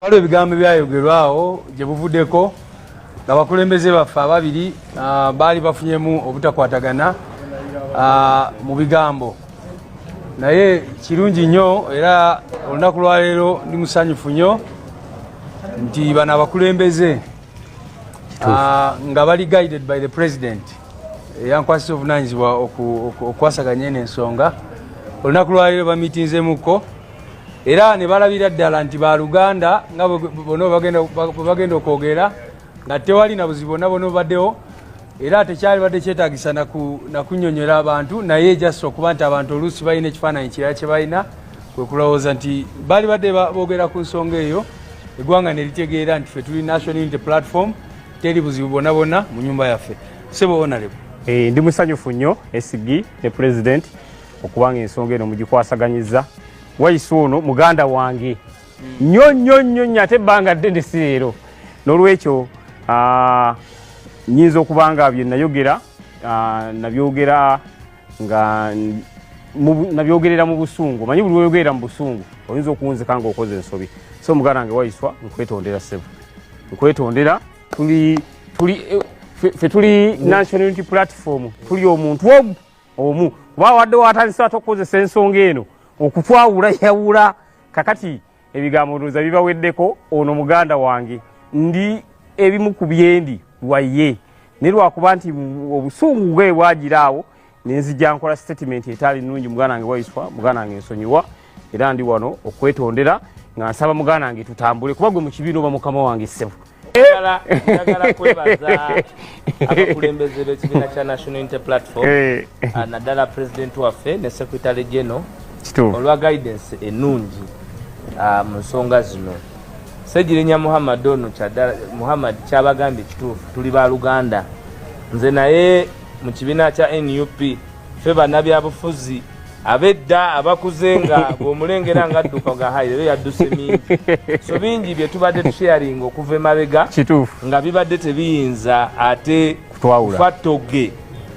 waliwo ebigambo ebyayogerwawo gye buvuddeko nga bakulembeze baffe ababiri ah, baali bafunyemu obutakwatagana ah, mu bigambo naye kirungi nnyo era olunaku lwaleero ndi musanyufu nnyo nti bano abakulembeze ah, nga bali guided by the president eyankwasisa obuvunanyizibwa okukwasaganya eno ensonga olunaku lwaleero bamitinzemuko era ne balabira ddala nti baluganda nga bwebagenda okwogera nga tewali na buzibu bonna bona obaddewo era tekyali badde kyetagisa nakunyonyola abantu naye just okuba nti abantu oluusi balina ekifaananyi kirala kye balina kwekulowooza nti bali badde boogera ku nsonga eyo eggwanga neritegeera nti fe tuli national unity platform teri buzibu bona bona mu nyumba yaffe sebo onalebo eh, ndi musanyufu nnyo esigi ne pulezidenti okubanga ensonga eno mugikwasaganyizza wayisa ono muganda wange nyo nyo nyo nyo ate ebbanga ddene si leero n'olwekyo ah, nyinza okuba nga bye nayogera ah, nabyogera nga nabyogerera mu busungu manyi buli oyogerera mu busungu oyinza okuwunzika nga okoze ensobi so muganda wange wayiswa nkwetondera sebo nkwetondera tuli tuli eh, fe tuli national unity platform tuli omuntu ogu omu kuba awadde watandise ate okukozesa ensonga eno okutwawula yawula kakati ebigambo ndooza bibaweddeko ono muganda wange ndi ebimu ku byendi waye naye lwakuba nti obusungu bwe bwagira awo nenzija nkola sitatimenti etaali nungi muganda wange waiswa muganda wange nsonyiwa era ndi wano okwetondera nga nsaba muganda wange tutambule kuba gwe mu kibiina oba mukama wange ssebo njagala njagala kwebaza abakulembeze b'ekibiina kya national inter platform eh. ah, naddala pulezidenti waffe ne secretary general olwa guidance ennungi ah, mu nsonga zino segirinya muhammad ono muhammad kyabagambye kituufu tuli ba luganda nze naye mu kibiina kya nup ffe bannabyabufuzi abedda abakuze nga bwomulengera nga adduka nga hayi lero yadduse mingi so bingi bye tubadde tusharinga okuva emabega nga bibadde tebiyinza ate fattoge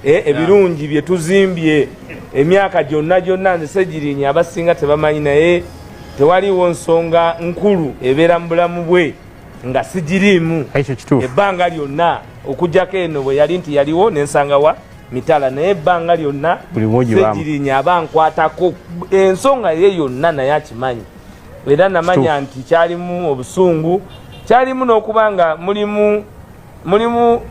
e, ebirungi bye tuzimbye emyaka gyonna gyonna nze segirinya abasinga tebamanyi naye tewaliwo nsonga nkulu ebeera mu bulamu bwe nga sigiriimu ebbanga lyonna okujjako eno bwe yali nti yaliwo nensangawa mitala naye ebbanga lyonna segirinya aba nkwatako ensonga ye yonna naye akimanyi era namanya nti kyalimu obusungu kyalimu n'okuba nga mulimu mulimu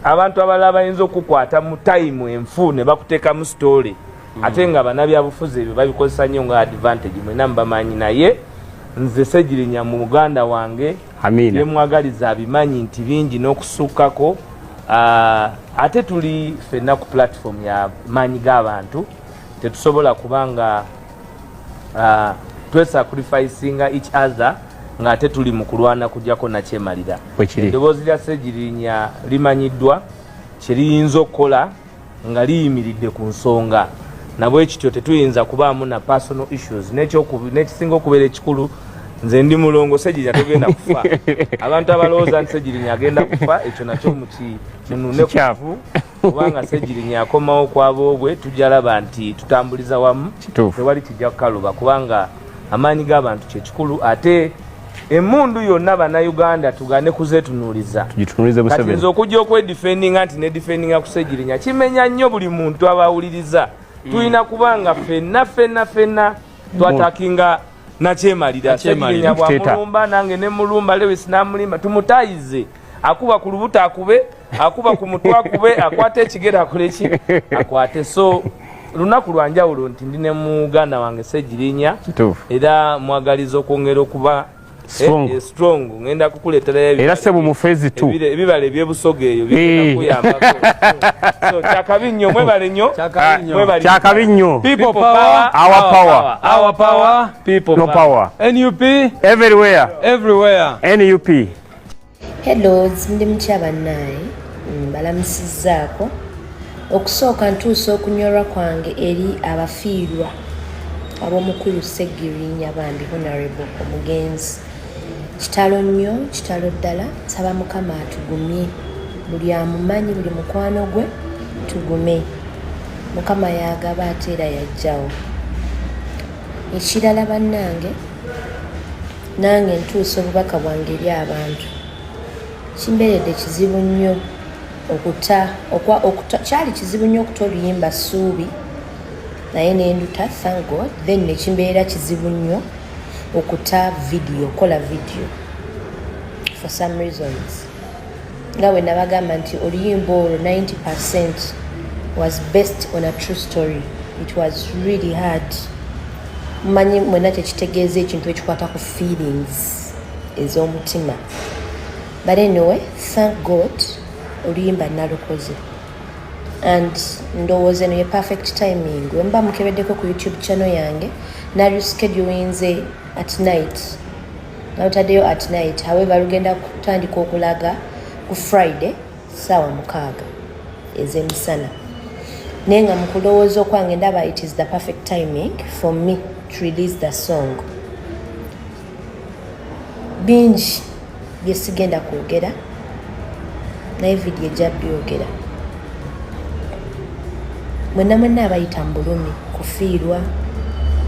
abantu abalala bayinza okukwata mu tayimu enfu ne bakuteekamu sitoole mm. ate nga banabyabufuzi ebyo babikozesa nnyo nga advantage mwena mubamanyi naye nze segirinya mu muganda wange amiina byemwagaliza abimanyi nti bingi n'okusukkako ah, ate tuli fenna ku platform ya maanyi g'abantu tetusobola kuba nga ah, twesacrificinga each other ng'ate tuli mu kulwana kujjako nakyemalira Bwe kiri. eddoboozi lya segirinya limanyiddwa kye liyinza okukola nga liyimiridde ku nsonga nabwekityo tetuyinza kubaamu na personal issues nekisinga okubeera ekikulu nze ndi mulongo segirinya togenda kufa abantu abalowooza nti segirinya agenda kufa ekyo nakyo munune kuvu kubanga segirinya akomawo kwaboobwe tujalaba nti tutambuliza wamu tewali kijja kukaluba kubanga amaanyi g'abantu kyekikulu ate emundu yonna banauganda tugane kuzetunuliza nze okujja okwedifendinga nti nedifendinga kusegirinya kimenya nnyo buli muntu abawuliriza mm. tulina kuba nga fenna fenna fenna twatakinga nakyemalira segirinya bwamulumba nange nemulumba lewis namulimba tumutayize akuba ku lubuto akube akuba ku mutwe akube akwata ekigere akole ki akwate so lunaku lwanjawulo nti ndi ne muganda wange segirinya era mwagaliza okwongera okuba strong eh, eh, strong ngenda kukuletera ebi era sebo mu phase 2 ebibale bye busoge eyo bigenda eh. kuyamba so chakabinyo mwe bale nyo chakabinyo mwe bale chakabinyo people power our power our power people no power nup everywhere everywhere nup hellos ndi mutya bannaye mbalamusizzaako mm, okusooka ntuusa okunyolwa kwange eri abafiirwa ab'omukulu ssegirinya bambi honarable omugenzi kitalo nnyo kitalo ddala nsaba mukama atugumye buli amumanyi buli mukwano gwe tugume mukama yagaba ate era yajjawo ekirala bannange nange ntuusa obubaka bwange eri abantu kimberedde kizibu nnyo okuta okwa okuta kyali kizibu nnyo okuta oluyimba suubi naye nenduta thank god then nekimbeera kizibu nnyo okuta vidiyo kola vidiyo for some reasons nga bwe nabagamba nti oluyimba olwo 90 percent was based on a true story it was really hard manyi mwena kyekitegeeza ekintu ekikwata ku feelings ez'omutima but anyway thank god oluyimba nalukoze and ndowooza eno ye perfect timing wemba mukebeddeko ku youtube channel yange nalyu schedulinze at night nalutaddeyo at night however lugenda kutandika okulaga ku friday saawa mukaaga ezemisana naye nga mukulowooza okwange ndaba it is the perfect timing for me to release the song bingi byesigenda kwogera naye vidiyo ejja byogera mwenna mwenna abayita mu bulumi kufiirwa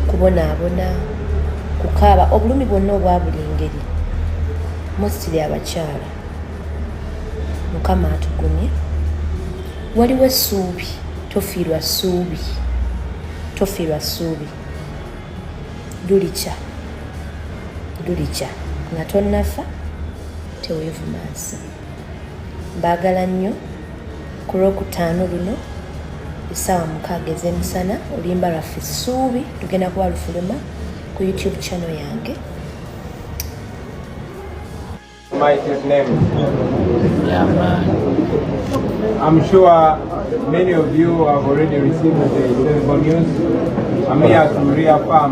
kubonaabona kukaaba obulumi bwonna obwa buli ngeri mostiri abakyala mukama atugumye waliwo essuubi tofiirwa ssuubi tofiirwa ssuubi lulikya lulikya nga tonnafa teweevumansa mbaagala nnyo ku lwokutaano luno essaawa mukaaga ez'emisana oluyimba lwaffe ssuubi lugenda kuba lufuluma ku youtube channel yange My name. Yeah, man. I'm sure many of you have already received the terrible news. I'm here to reaffirm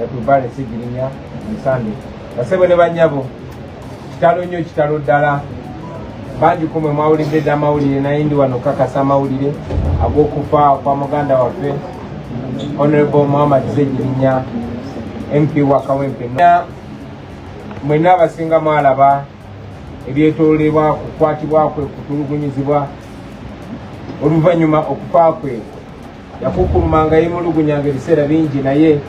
yatuvale sigirinya musande basebo ne banyabo kitalo nnyo kitalo ddala bangi kumwe mwawulidde dda amawulire naye ndi wano kakasa amawulire ag'okufa kwa muganda waffe honorable muhammad segirinya mp wa kawempe mwena abasinga mwalaba ebyetolebwa kukwatibwa kwe kutulugunyizibwa oluvannyuma okufa kwe yakukulumanga yemulugunyanga ebiseera bingi naye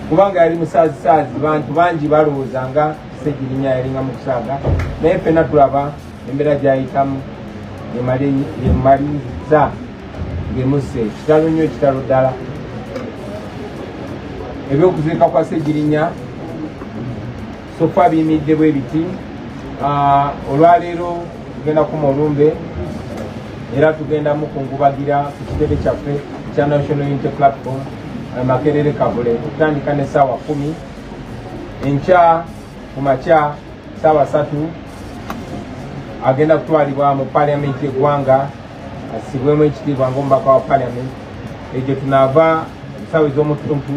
kubanga yali musaazisaazi bantu bangi balowooza nga kisegirinya yalinga mu kusaaga naye fena tulaba embeera gyayitamu yemaliza ngemusse kitalo nnyo kitalo ddala ebyokuziika kwa segirinya sofa abiyimiridde bwe biti ah, olwaleero tugenda kuma olumbe era tugenda mukungubagira ku kitebe kyaffe kya national unity platform eh, makerere kavule okutandika ne saawa kumi enkya ku makya saawa satu agenda kutwalibwa mu paliamenti yeggwanga asibwemu ekitiibwa ngaomubaka wa parliament ekyo tunaava esawa ez'omutuntu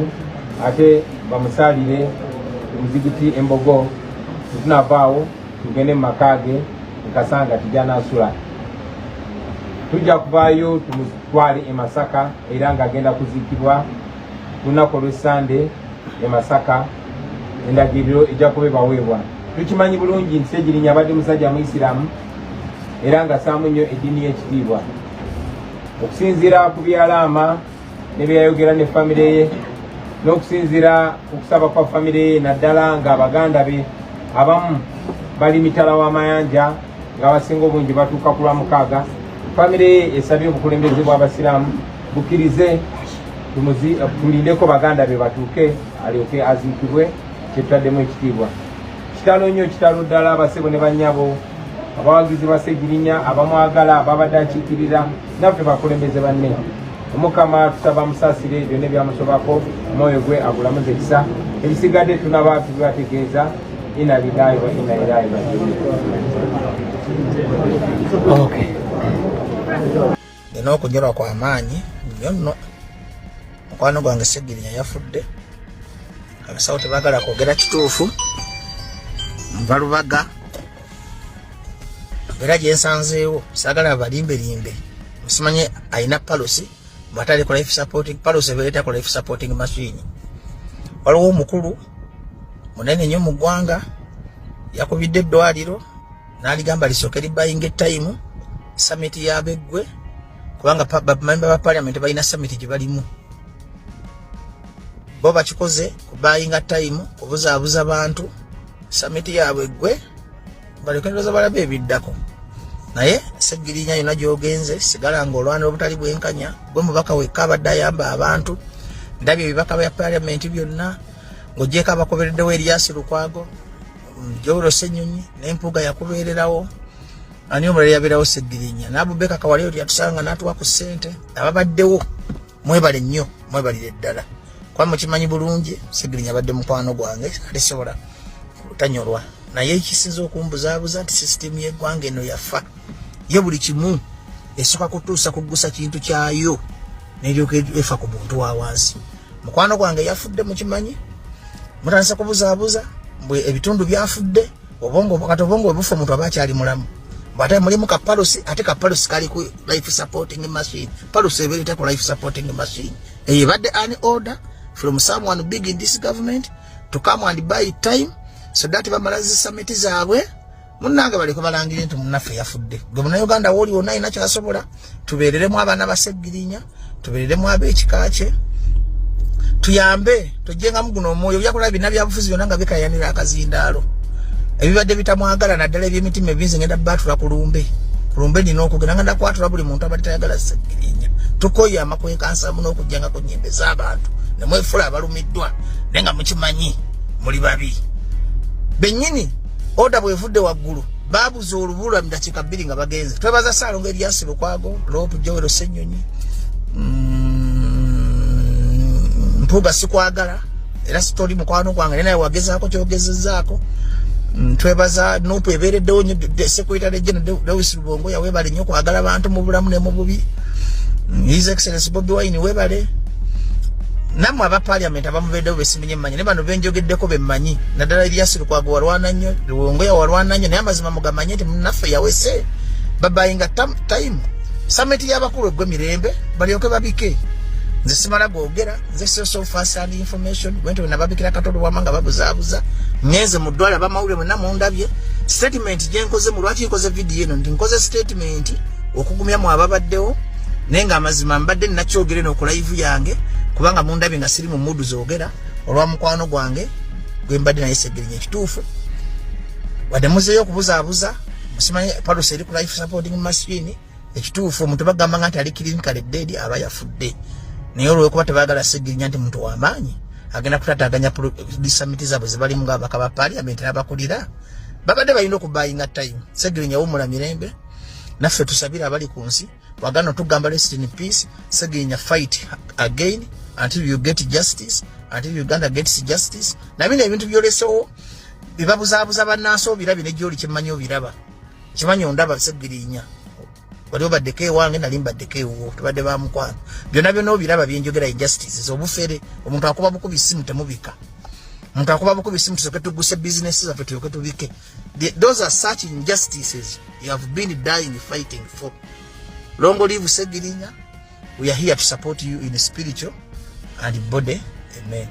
ate bamusaalire omuzigiti embogo tetunavaawo tugende mu maka ge nkasanga tijanaasula tujja kuvaayo tumutwale e masaka era ng'agenda kuziikibwa ku lunaku olw'essande e masaka endagiriro ejja kuba ebaweebwa tukimanyi bulungi nti segirinya abadde musajja muisiramu era nga saamu nnyo eddiini y'ekitiibwa okusinziira ku byalaama ne byeyayogera ne famire ye n'okusinziira ku kusaba kwa famire ye naddala nga abaganda be abamu bali mitala w'amayanja ng'abasinga obungi batuuka ku lwa mukaaga famire ye esabye obukulembeze bw'abasiraamu bukkirize tulindeko baganda be batuuke alyoke aziikibwe kyetutaddemu ekitiibwa kitalo nnyo kitalo ddala abasebo ne bannyabo abawagizi ba segirinya abamwagala ababadde akiikirira naffe bakulembeze banne omukama tusaba musasire byonna ebyamusobako omwoyo gwe agulamuza ekisa ebisigadde tunaba tubibategeeza ina lilayi wa ina ilayi rajiun okay. nina okunyolwa kwa maanyi nyo nno mukwano gwange segirinya yafudde abasawo tebagala kwogera kituufu nva lubaga era gyensanzeewo sagala balimbelimbe musimanye alina palosi bwatali ku life supporting palosi ebeereta ku life supporting machine waliwo omukulu munene nnyo mu ggwanga yakubidde eddwaliro n'aligamba lisooke libayinga ettayimu samiti yabeggwe kubanga bamemba ba parliament balina samiti gye balimu bo bakikoze kubayinga tayimu kubuzaabuza bantu samiti yaabwe ggwe balekereeza balabe ebiddako naye segirinya yona gyogenze sigala nga olwanira obutali bwenkanya gwe mubaka wekka abadde ayamba abantu ndabye ebibaka bya parliament byonna ng'ogyeko abakobereddewo eryasi lukwago jawulo senyonyi naye mpuuga yakubeererawo ani omulala yabeerawo seggirinya nabubeka kawale oti yatusanga natuwa ku ssente ababaddewo mwebale nnyo mwebalire ddala kuba mukimanyi bulungi seggirinya abadde mukwano gwange alisobola tanyolwa naye ekisinza okumbuzabuza nti sisitemu yeggwanga eno yafa ye buli kimu esoka kutuusa kugusa kintu kyayo neryoka efa ku muntu wawansi mukwano gwange yafudde mukimanyi mutandise kubuzaabuza mbwe ebitundu byafudde obongo kati obongo webufa omuntu aba akyali mulamu bwate mulimu ka palusi ate ka palusi kali ku life supporting machine palusi ebeereta ku life supporting machine eyo ebadde an order from someone big in this government to come and buy time so that bamala zi samiti zaabwe munange baleke balangire nti munaffe yafudde gwe munauganda wooli wonna alina kyasobola tubeereremu abaana baseggirinya tubeereremu ab'ekika kye tuyambe tojjengamu guno omwoyo byakola bina byabufuzi byonna nga bikayanira akazindaalo ebibadde bitamwagala naddala ebyemitima ebinzi ngenda baatula ku lumbe ku lumbe nina okugenda nga ndakwatula buli muntu abadde tayagala seggirinya tukoye amakwekansamu n'okujjanga ku nyimbe z'abantu nemwefula abalumiddwa naye nga mukimanyi muli babi bennyini oda bwevudde waggulu babuza olubulwa mudakiika bbiri nga bagenze twebaza saalongo eryasi lukwago loopu jowero senyonyi mm, mpuuga sikwagala era sitoli mukwano gwange naye naye wagezaako kyogezezaako mm, twebaza nupu ebeereddewo nyo sekwita lejena dawisi lubongo yawebale nyo kwagala bantu mu bulamu ne mu bubi mm, his excellence bobi wine webale namwe aba parliament abamubeeddewo besiminye manyi nebano benjogeddeko bemmanyi naddala ebyasirikwago walwana nnyo luwongoya walwana nnyo naye amazima mugamanye nti munaffe yawese babayinga time samenti yabakulu egwe mirembe balyoke babike nze simala gogera nze source of first hand information wente wenababikira katolo wama nga babuzabuza ngenze mu ddwaliro abamawulire mwena mundabye statement gyenkoze mu lwaki nkoze vidiyo eno nti nkoze statement okugumya mu ababaddewo naye nga amazima mbadde nakyogere nokulayivu yange kubanga mundabye nga siri mu mudu ogera olwa mukwano gwange gwe mbadde naye segirinya ekituufu wadde muzeeyo okubuzaabuza musimanyi palusi eri ku life supporting machine ekituufu omuntu bagamba nga nti ali clinical dead aba yafudde naye olwokuba tebagala segirinya nti muntu wamaanyi agenda kutataganya disamiti zaabwe zibalimu nga abaka ba parliament nabakulira babadde balina okubayinga time segirinya wumula mirembe naffe tusabire abali ku nsi wagana tugamba rest in peace segenya fight again until you get justice until uganda gets justice nabino ebintu byolesewo bibabuzabuza banansi obirabye negyoli kimanyi obiraba kimanyi ondaba segirinya wali obaddeko ewange nali mbaddeko ewuwo tubadde bamukwano byona byona obiraba byenjogera injustices obufere omuntu akuba bukubi simu temubika omuntu akuba bukubi simu tusoke tuguse bizinesi zaffe tuyoke tubike The, those are such injustices you have been dying fighting for. Long live Segirinya. We are here to support you in spiritual and body. Amen.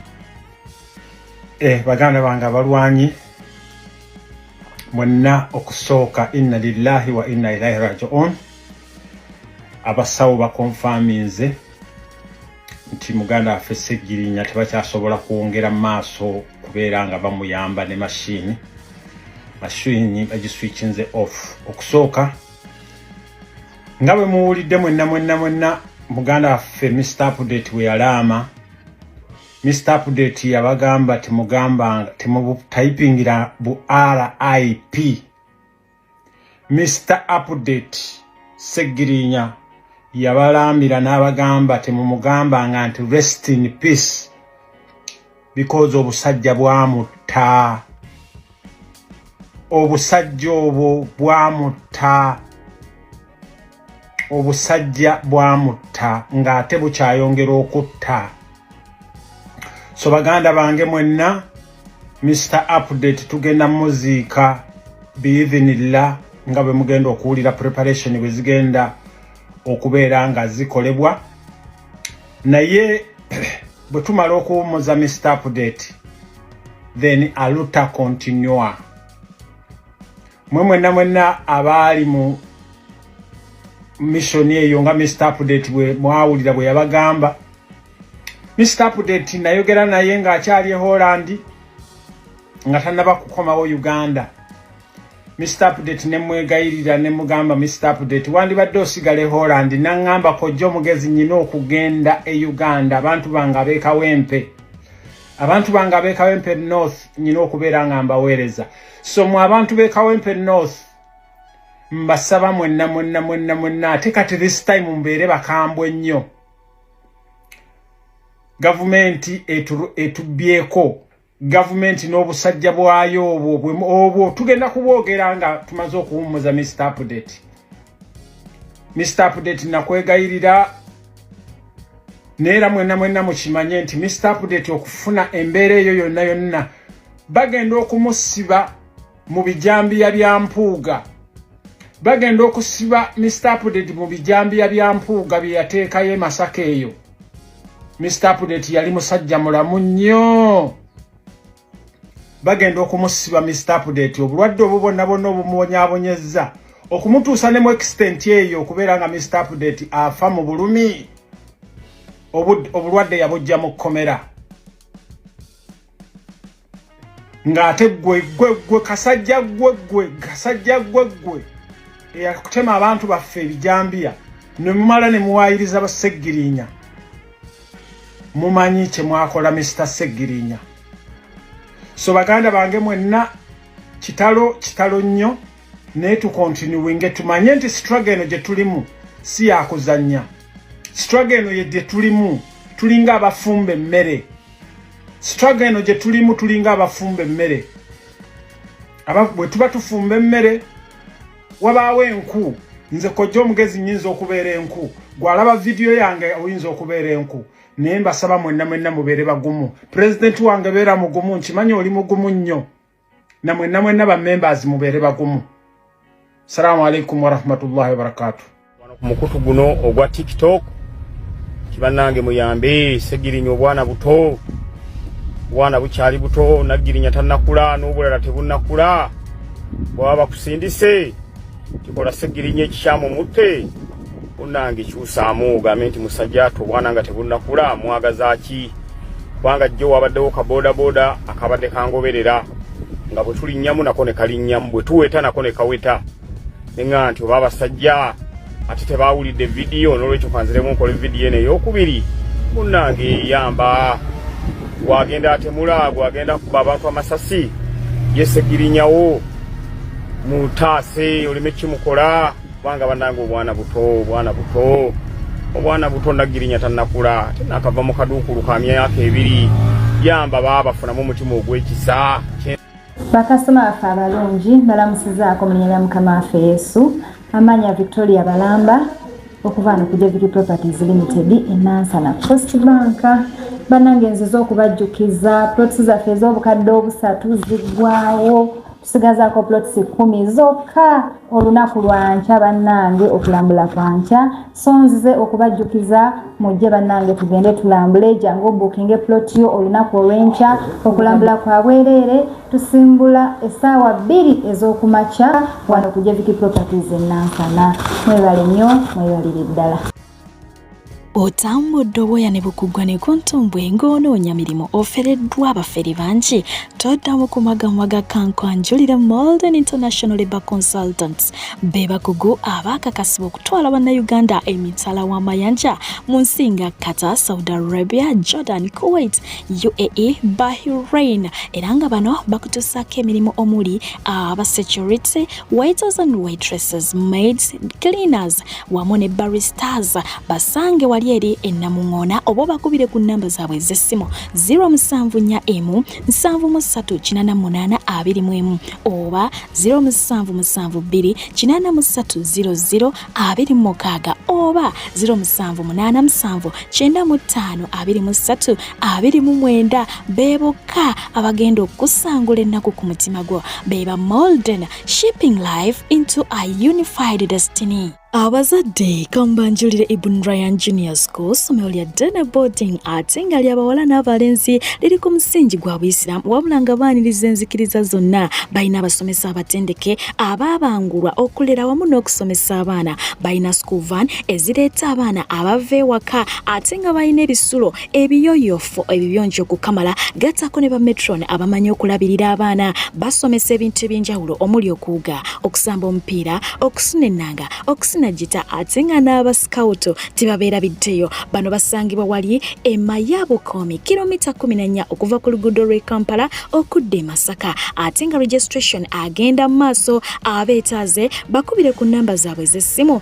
Eh, baganda bange abalwanyi mwenna okusooka inna lillahi wa inna ilaihi rajiun abasawo bakonfaminze nti muganda waffe segirinya tebakyasobola kwongera maaso kubeera nga bamuyamba ne mashini mashini bagiswichinze off okusooka nga bwe muwulidde mwenna mwenna mwenna muganda waffe mr update we yalaama mr update yabagamba temugamba temubutayipingira bu rip Mr Update Segirinya yabalambira n'abagamba temumugambanga nti rest in peace because obusajja bwamutta obusajja obwo bwamutta obusajja bwamutta ng'ate bukyayongera okutta so baganda bange mwenna mr update tugenda muziika biidhinillah nga bwe mugenda okuwulira preparation bwe zigenda okubeera nga zikolebwa naye bwe tumala okuwummuza mr update then aluta continua mwe mwenna mwenna abaali mu missioni eyo nga mr update bwe mwawulira bwe yabagamba mr update nayogera naye ng'akyali e holland nga tanaba kukomawo uganda mr update ne mwegayirira ne mugamba mr update wandibadde osigala e holland naŋŋamba kojja omugezi nyina okugenda e uganda abantu bange abeekawempe abantu bange abeekawempe north nyina okubeera nga mbaweereza so mwe abantu be kawempe north mbasaba mwenna mwenna mwenna mwenna ate kati this time mbeere bakambwe nnyo gavumenti etubyeko gavumenti n'obusajja bwayo obwo obwo tugenda kubwogera nga tumaze okuwummuza mr update mr update nakwegayirira neera mwenna mwenna mukimanye nti mr update okufuna embeera eyo yonna yonna bagenda okumusiba mu bijambiya bya mpuuga bagenda okusiba mr apdate mu bijambiya bya mpuuga bye yateekayo emasaka eyo mr apdate yali musajja mulamu nnyo bagenda okumusiba mr apdate obulwadde obwo bonna bonna obumubonyabonyezza okumutuusa ne mu extent eyo okubeera nga mr apdate afa mu bulumi obulwadde yabujja mu kkomera ng'ate gwe gwe gwe kasajja gwe gwe kasajja gwe gwe eyakutema abantu baffe ebijambiya ne mumala ne muwaayiriza baseggirinya mumanyi kye mwakola misita seggirinya so baganda bange mwenna kitalo kitalo nnyo naye tukontinuwinge tumanye nti sitraga eno gye tulimu si yakuzannya sitraga eno ye gye tulimu tulinga abafumba emmere struggle eno gye tulimu tulinga abafumba emmere bwe tuba tufumba emmere wabaawo enku nze kojja omugezi nyinza okubeera enku gwalaba vidiyo yange oyinza okubeera enku naye mbasaba mwenna mwenna mubeere bagumu pulezidenti wange beera mugumu nkimanyi oli mugumu nnyo namwe namwe naba members mubere bagumu salamu alaikum wa rahmatullahi wa barakatuh wano ku mukutu guno ogwa tiktok kibanange muyambe segirinya obwana buto bwana bukyali buto nagirinya tanakula n'obulala tebunakula bwaba bakusindise kikola segirinya ekikyamu mutte unange kyusaamu ogambe nti musajja to obwana nga tebunnakula mwagaza ki kubanga jjo wabaddewo ka bodaboda akabadde kangoberera nga bwe tulinnyamu nako ne kalinnyamu bwe tuweta nako ne kaweta neŋa nti oba abasajja ate tebawulidde vidiyo n'olwekyo kanziremu nkola evidiyo eno eyokubiri munnange eyamba gwagenda atemula gwagenda kuba abantu amasasi yesegirinyawo mutaase oleme kimukola kubanga banange obwana buto obwana buto obwana buto nagirinya tanakula tenakava mu kaduukulu ka myaka ebiri yamba baabafunamu omutima ogwekisa bakasitoma baffe abalungi balamusizaako mu linya lya mukama waffe yesu amaanya victoria balamba okuva ano ku jevity properties limited enansana cost bank banange nziza okubajjukiza plots zaffe ez'obukadde obusatu ziggwawo tusigazaako plots kumi zokka olunaku lwankya bannange okulambula kwankya so nzize okubajjukiza mujje bannange tugende tulambule jangu obukinge plot yo olunaku olwenkya okulambula kwa bwereere tusimbula essaawa bbiri ez'okumakya wano ku jeviki properties enansana mwebale nnyo mwebalire ddala otambudde obwoya ne bukuggwa ne ku ntumbwe ng'onoonya mirimu ofereddwa abafere bangi toddamu ku magamwa ga kankwanjulire molden international labour consultants be bakugu abaakakasibwa okutwala bannayuganda emitala w'amayanja mu nsi nga qatar saudi arabia jordan kuwait uae bahrain era nga bano bakutusaako emirimu omuli aba security waiters and waitresses maids cleaners wamu ne Barry Stars basange wali eri ennamuŋoona oba obakubire ku nnamba zaabwe ez'essimu 0741738821 oba 0772830026 oba 0787952329 beebokka abagenda okusangula ennaku ku mutima gwo be ba Molden Shaping life into a unified destiny. abazadde kamubanjulire ibun ryan junior school somero lya dene boarding ate nga lyabawala n'abalenzi liri ku musingi gwa buisiramu wabula nga baaniriza enzikiriza zonna balina abasomesa abatendeke abaabangulwa okulera wamu n'okusomesa abaana balina school van ezireeta abaana abava ewaka ate nga balina ebisulo ebiyoyofo ebibiyonjo okukamala gattako ne bametron abamanyi okulabirira abaana basomesa ebintu eby'enjawulo omuli okuwuga okusamba omupiira okusuna ennanga okusina gita ate nga n'abasikawuto tebabeera biddeyo bano basangibwa wali ema ya bukoomi kilomita 14 okuva ku luguudo lw'e kampala okudda e masaka ate nga registration agenda mu maaso abeetaaze bakubire ku nnamba zaabwe z'essimu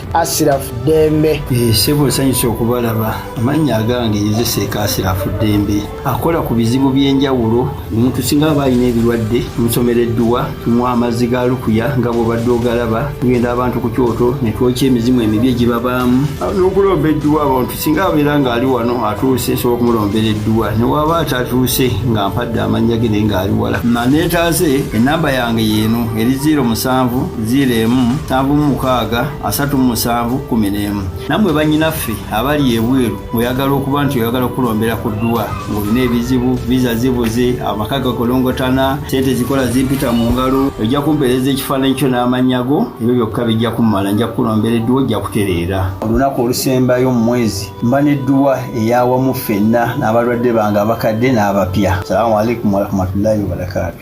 Asirafu Ddembe. Eh, ssebo nsanyusa okubalaba amannya agange yezeseeka Asirafu Ddembe akola ku bizibu by'enjawulo omuntu singa aba alina ebirwadde omusomera edduwa tumuwa amazzi ga lukuya nga bwobadde ogalaba tugenda abantu ku kyoto ne twokya emizimu emibi egibabaamu n'okulomba edduwa abantu singa abeera ng'ali wano atuuse nsobola okumulombera edduwa ne waaba atatuuse nga mpadde amannya ge naye ng'ali wala maneetaaze ennamba yange yeeno eri 0 musanvu 0 emu nsanvu mu mukaaga asatu mu musanvu kumi n'emu nammwe bannyinaffe abali ebweru oyagala okuba nti oyagala okukulombera ku dduwa ng'olina ebizibu viza zibuze amaka gakolongotana sente zikola zimpita mu ngalo ojja kumpeereza ekifaananyi kyo n'amannya go ebyo byokka bijja kummala nja kukulombera edduwa ojja kutereera olunaku olusembayo mu mwezi mba n'edduwa eyawamu ffenna n'abalwadde bange abakadde n'abapya salamu alaikum warahmatullahi wabarakatu